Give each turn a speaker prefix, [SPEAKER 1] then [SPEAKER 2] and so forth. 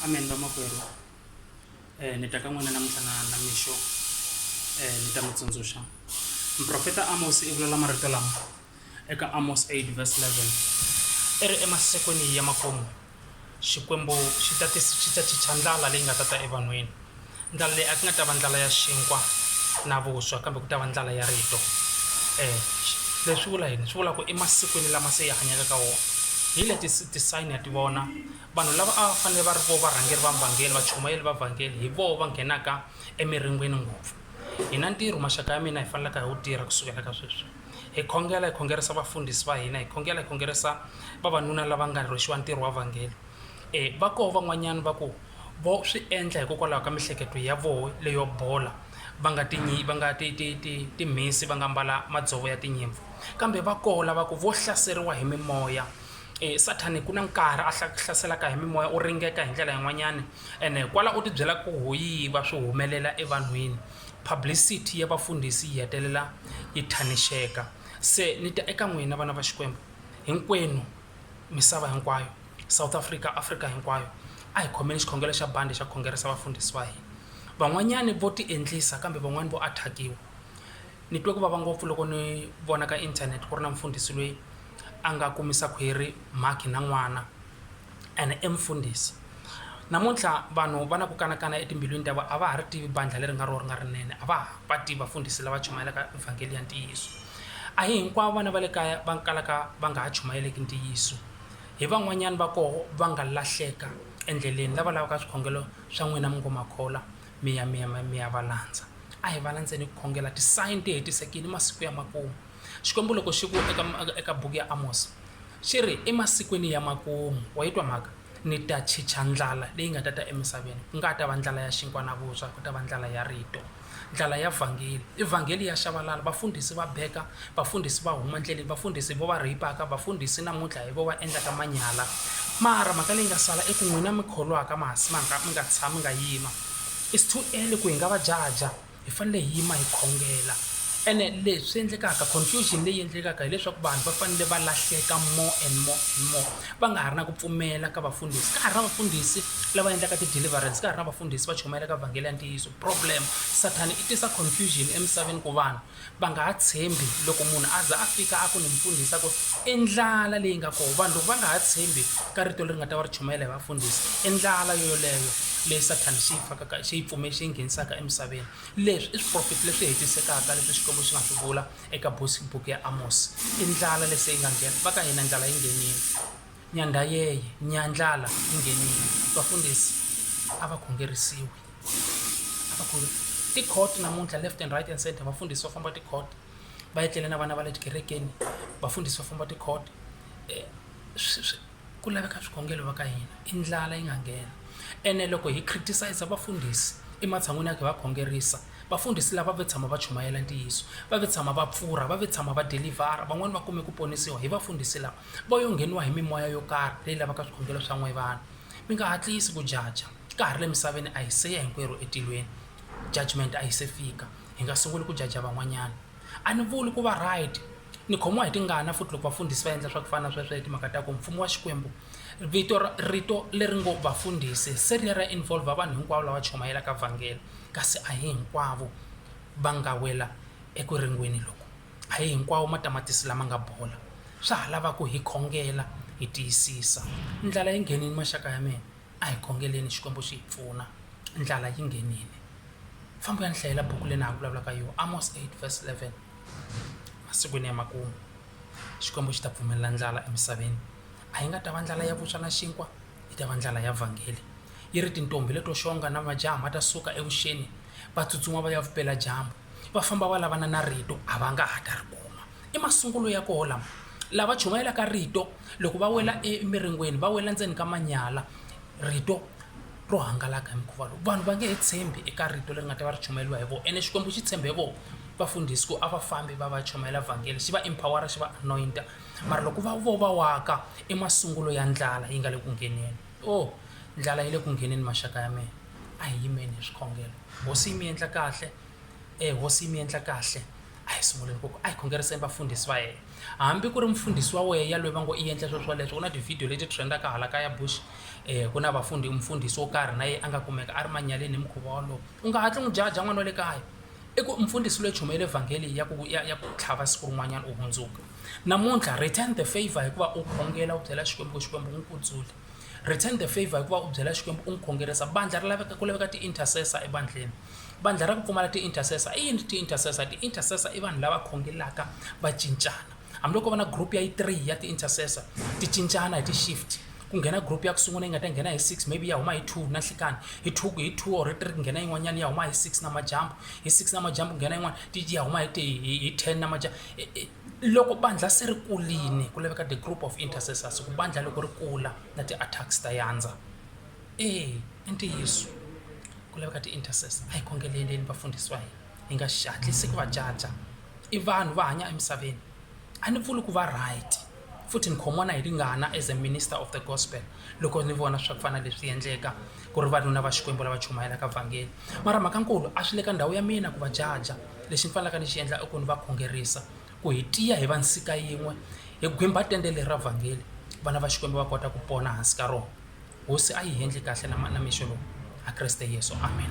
[SPEAKER 1] amen vamakwerhu um ni ta ka n'wina namuntlha na na mixo um ni ta mi tsundzuxa muprofeta amos i vulela marito lama eka amos 8 verse 11 i ri emasikwini ya makumu xikwembu xi ta xi ta chicha ndlala leyi nga ta ta evanhwini Ndlala leyi a ku nga ta va ndlala ya xinkwa na vuswa kambe ku ta va ndlala ya rito leswi swi vula yini swi vula ku emasikwini lama se hi hanyaka ka wona hi leti ti sign ya ti vona vanhu lava a va fanele va ri vona varhangeri va vhangeri vachumayeri va vhangeri hi vona va nghenaka emirin'wini ngopfu hi na ntirho maxaka ya mina hi faneleke hi wu tirha kusukela ka sweswi hi khongela hi khongerisa vafundhisi va hina hi khongela hi khongerisa vavanuna lava nga rhwexiwa ntirho wa vhangeri. E, va koho van'wanyana va ku vo swi endla hikokwalaho ka mihleketo ya voho leyo bola va nga tinyi va nga ti ti ti timhisi va nga mbala madzovo ya tinyimpfu kambe va koho lava ku vo hlaseriwa hi mimoya e, sathani ku na nkarhi a hlaselaka hi mimoya u ringeka hi ndlela yin'wanyana ene kwala u tibyela ku hoyiva swi humelela evanhwini publicity ya vafundhisi yi hetelela yi thanixeka se ni ta eka n'wina vana va xikwembu hinkwenu misava hinkwayo South Africa Africa hinkwayo a hi khomeni xikhongelo xa bandi xa khongerisa vafundhisi va hina van'wanyani vo ti endlisa kambe van'wani vo attackiwa ni twe ku vava ngopfu loko ni vona ka internet ku ri na mfundhisi lweyi a nga kumisa khwiri mhakhi na n'wana ene i mfundhisi Namuntlha vanhu va na ku kanakana etimbilwini ta vona, a va ha ri tivi bandlha leri nga rona ri nga rinene, a va ha va tivi vafundhisi lava chumayelaka evhangeli ya ntiyiso. A hi hinkwavo vana va le kaya va kalaka va nga ha chumayeleki ntiyiso. Hi van'wanyana va koho va nga lahleka endleleni, lava lavaka swikhongelo swa n'wina mi ngo ma kholwa, mi ya mi ya mi ya va landza. A hi va landzeni hi ku khongela, ti-sign ti hetisekile, i masiku ya makumu. Xikwembu loko xi ku eka eka buku ya Amosi, xi ri, emasikwini ya makumu. Wa yi twa mhaka? Ni ta chicha ndlala leyi nga ta ta emisaveni, ku nga ha ta va ndlala ya xinkwa na vuswa, ku ta va ndlala ya rito, ndlala ya vhangeli. I vhangeli ya xavalala, vafundhisi va beka, vafundhisi va huma ndleleni, vafundhisi hi vona va rheyipaka, vafundhisi namuntlha hi vona va endlaka manyala. Mara mhaka leyi nga sala i ku n'wina mi kholwaka ma ha mi nga tshami mi nga yima, it's too early ku hi nga va jaja. hi fanele hi yima hi khongela ene leswi endlekaka confusion leyi endlekaka hileswaku vanhu va fanele va lahleka more and more and more va nga ha ri na ku pfumela ka vafundhisi ka ha ri na vafundhisi lava endlaka ti-deliverance ka ha ri na vafundhisi va chumayelaka vhangele ya ntiyiso problem sathani i tisa confusion emisaveni ku vanhu va nga ha tshembi loko munhu a za a fika a ku ni mfundhisi a ku i ndlala leyi nga kona vanhu loko va nga ha tshembi ka rito leri nga ta va ri chumayela hi vafundhisi i ndlala yo yoleyo leyi sathana xi yi fakaka xi yi pfume xi yi nghenisaka emisaveni leswi i swiprofeti leswi hetisekaka leswi xikwembu xi nga swi vula eka buku ya amosi i ndlala lese yi nga nghena va ka hina ndlala yi nghenile Nyandha yeye, nyandlala yi nghenile. Vafundhisi a va khongerisiwi. A va khonge ti-court namuntlha left and right and center vafundhisi va famba ti-court va etlele na vana va le tikerekeni vafundhisi va famba ti-court swi swi ku laveka swikhongelo va ka hina i ndlala yi nga nghena ene loko hi criticize vafundhisi ematshan'wini ya ku hi va khongerisa vafundhisi lava ve tshama va chumayela ntiyiso va ve tshama va pfurha va ve tshama va delivhara van'wani va kume ku ponisiwa hi vafundhisi lava Va yo ngheniwa hi mimoya yo karhi leyi lavaka swikhongelo swa n'we vanhu. Mi nga hatlisi ku jaja. Ka ha ri le misaveni, a hi se ya hinkwerhu etilweni. Judgment a yi se fika. Hi nga sunguli ku jaja van'wanyana. A ni vuli ku va right. Ni khomiwa hi tingana futhi loko vafundhisi va endla swa ku fana na sweswo hi timhaka ta ku mfumo wa Xikwembu, vito ra, rito leri ngo vafundhisi se ri ya ra involve vanhu hinkwavo lava chumayelaka vhangele, kasi a hi hinkwavo va nga wela eku ringweni loku. A hi hinkwawo matamatisi lama nga bola. Swa ha lava ku hi khongela hi tiyisisa. Ndlala yi nghenile maxaka ya mina. A hi khongeleni Xikwembu xi hi pfuna. Ndlala yi nghenile. Famba u ya ni hlayela buku leyi na ha vulavulaka hi yona, Amos eight verse eleven. Emasikwini ya makumu, Xikwembu xi ta pfumelela ndlala emisaveni. A yi nga ta va ndlala ya vuswa na xinkwa, yi ta va ndlala ya vhangeli. Yi ri, Tintombhi leto xonga na majaha ma ta suka evuxeni, va tsutsuma va ya vupeladyambu. va famba va lavana na rito a va nga ha ta ri kuma i masungulo ya koho lama lava chumayelaka rito loko va wela emiringweni va wela ndzeni ka manyala rito ro hangalaka hi mukhuva lowu vanhu va nge he tshembi eka rito leri nga ta va ri chumayeriwa hi vona ene xikwembu xi tshembe vona vafundhisi ku a va fambi va va chumayela vhangeli xi va empowera xi va anointa mara loko va vo va waka i masungulo ya ndlala yi nga le ku ngheneni o oh, ndlala yi le ku ngheneni maxaka ya mina a hi yimeni hi swikhongelo hosi yi mi endla kahle e hosi yi mi endla kahle a hi sunguleni ku a hi khongeriseni vafundhisi va yena hambi ku ri mfundhisi wa wehe yaloyi va ngo i endla swilo swoleswo ku na tivhidiyo leti trendaka hala kaya bush um ku na vafundi mfundhisi wo karhi na ye a nga kumeka a ri manyaleni hi mukhuva wolowo u nga hatli n'wi jaja n'wana wa le kaya i ku mfundhisi loyi chumayela evhangeli ya ku ya ya ku tlhava siku rin'wanyana u hundzuka namuntlha return the favor hikuva u khongela u byela xikwembu ku xikwembu n'wi kudzule Return the favor hi ku va u byela Xikwembu u n'wi khongerisa bandlha ri laveka ku laveka ti-intercessor ebandlheni bandlha ra ku pfumala ti-intercessor i yini ti-intercessor ti-intercessor i vanhu lava khongelaka va cincana hambiloko va na group ya yi three ya ti-intercessor ti cincana hi ti-shift ku nghena group ya ku sungula yi nga ta nghena hi six maybe ya huma hi two na nhlikani hi two hi two or hi three ku nghena yin'wanyana ya huma hi six na majambu hi six na majambu nghena yin'wana ti ya huma hi hi ten na majambu Loko bandlha se ri kulini, ku laveka the group of intercessors, ku bandlha loko ri kula na ti-attacks ta yandza. E, i ntiyiso. Ku laveka ti-intercessor, a hi khongeleleni vafundhisi va hina, hi nga hatlisi ku va jaja. I vanhu va hanya emisaveni. A ni vuli ku va right, futhi ni khomiwa na hi tingana as a minister of the gospel loko ni vona swa ku fana na leswi endleka. ku ri vanuna va Xikwembu lava chumayelaka vhangeli. Mara mhakankulu a swi le ka ndhawu ya mina ku va jaja. Lexi ni fanelaka ni xi endla i ku ni va khongerisa ku hi tiya hi va nsika yin'we hi gwimba tende leri ra vhangeli vana va Xikwembu va kota ku pona hansi ka rona. Hosi a yi hendli kahle na na mixo lowu a Kreste Yesu amen.